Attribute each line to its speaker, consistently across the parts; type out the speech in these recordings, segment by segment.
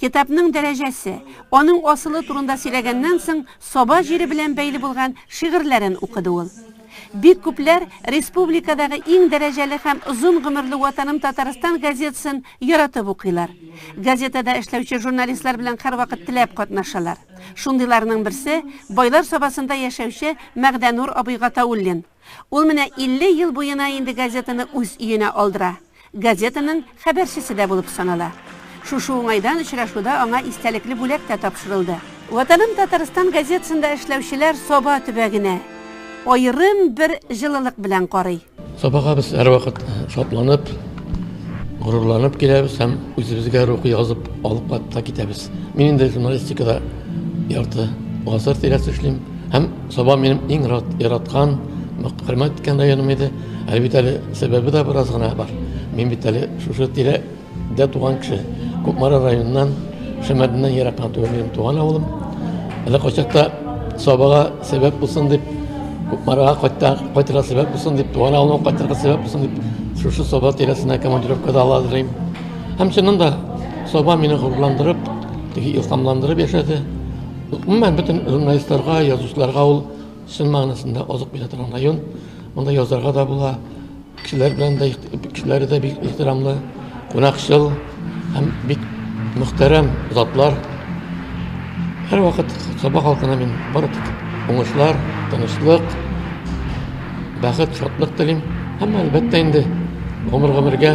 Speaker 1: Китапның дәрәҗәсе, аның асылы турында сөйләгәннән соң, Саба җире белән бәйле булган шигырьләрен укыды ул. Бик күпләр республикадагы иң дәрәҗәле һәм озын гомерле Ватаным Татарстан газетасын яратып укыйлар. Газетада эшләүче журналистлар белән һәрвакыт теләп катнашалар. Шундыйларның берсе, Байлар Сабасында яшәүче Мәгъдәнур абый Гатауллин. Ул менә илле ел буена инде газетаны үз өенә алдыра, газетаның хәбәрчесе дә булып санала. Шушы уңайдан очрашуда аңа истәлекле бүләк тә тапшырылды. Ватаным Татарстан газетасында эшләүчеләр Саба төбәгенә аерым бер җылылык белән карый. Сабага без
Speaker 2: һәрвакыт шатланып, горурланып киләбез һәм үзебезгә рухи язып алып та китәбез. Мин инде журналистикада Ярты гасыр тирәсе эшлим. Һәм Саба минем иң яраткан, хөрмәт иткән районым иде. Әле бит әле сәбәбе дә бераз гына бар. Мин бит әле шушы тирәдә туган кеше. Кукмара районыннан, Шәмәрдәннән ерак кына түгел минем туган авылым. Әле кайчакта Сабага сәбәп булсын дип, Кукмарага кайтта, кайтырга сәбәп булсын дип, туган авылыма кайтырга сәбәп булсын дип, шушы Саба тирәсенә командировкада ала Һәм чыннан да Саба мине горурландырып, Теге илһамландырып яшәде. Гомумән бөтен журналистларга, язучыларга ул чын мәгънәсендә азык бирә торган район. Монда язарга да була. Кешеләр белән дә кешеләре дә бик ихтирамлы, кунакчыл һәм бик мөхтәрәм затлар. Һәрвакыт Саба халкына мин бары тик уңышлар, тынычлык, бәхет, шатлык телим. Һәм әлбәттә инде гомер гомергә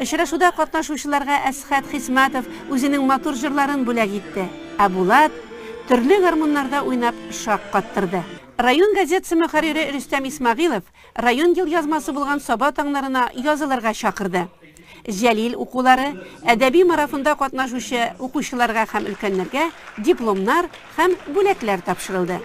Speaker 1: Очрашуда катнашучыларга Әсхәт Хисмәтов үзенең матур җырларын бүләк итте, ә Булат төрле гармуннарда уйнап шаккаттырды. Район газетасы мөхәррире Рөстәм Исмәгыйлов район елъязмасы булган Саба таңнарына язылырга чакырды. Җәлил укулары, әдәби марафонда катнашучы укучыларга һәм өлкәннәргә дипломнар, һәм бүләкләр тапшырылды.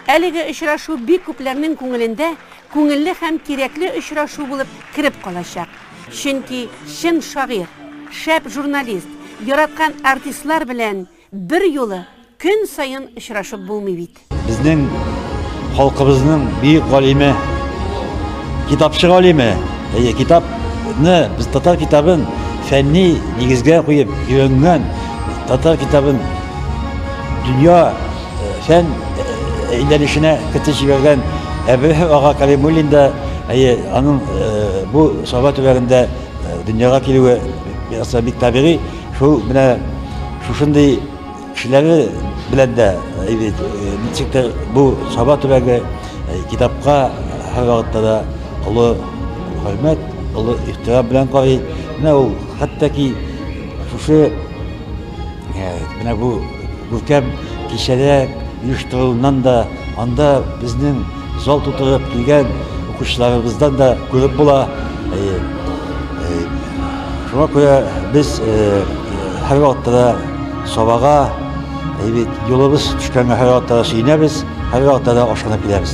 Speaker 1: Әлеге очрашу бик күпләрнең күңелендә күңелле һәм кирәкле очрашу булып кереп калачак. Чөнки чын шагыйрь, шәп журналист, яраткан артистлар белән берьюлы көн саен очрашып булмый бит. Безнең
Speaker 3: халкыбызның бөек галиме, китапчы галиме, әйе, китапны, без татар китабын фәнни нигезгә куеп өйрәнгән татар китабын, Дөнья фән әйләнешенә кертеп җибәргән Әбрәһ ага Калимуллин да, әйе, аның бу Саба төбәгендә дөньяга килүе ясалып бик табигый. Шул менә шушындый кешеләре белән дә бит ничек тә бу Саба төбәге китапка һәр вакытта да олы хөрмәт, олы ихтирам белән карый. Менә ул хәтта ки шушы Менә бу күркәм кичәдә оештырылуыннан да, анда безнең зал тутырып килгән укучыларыбыздан да күреп була. Шуңа күрә без һәрвакытта да сабага юлыбыз төшкәнгә һәрвакытта да сөенәбез, һәрвакытта да ашкынып киләбез.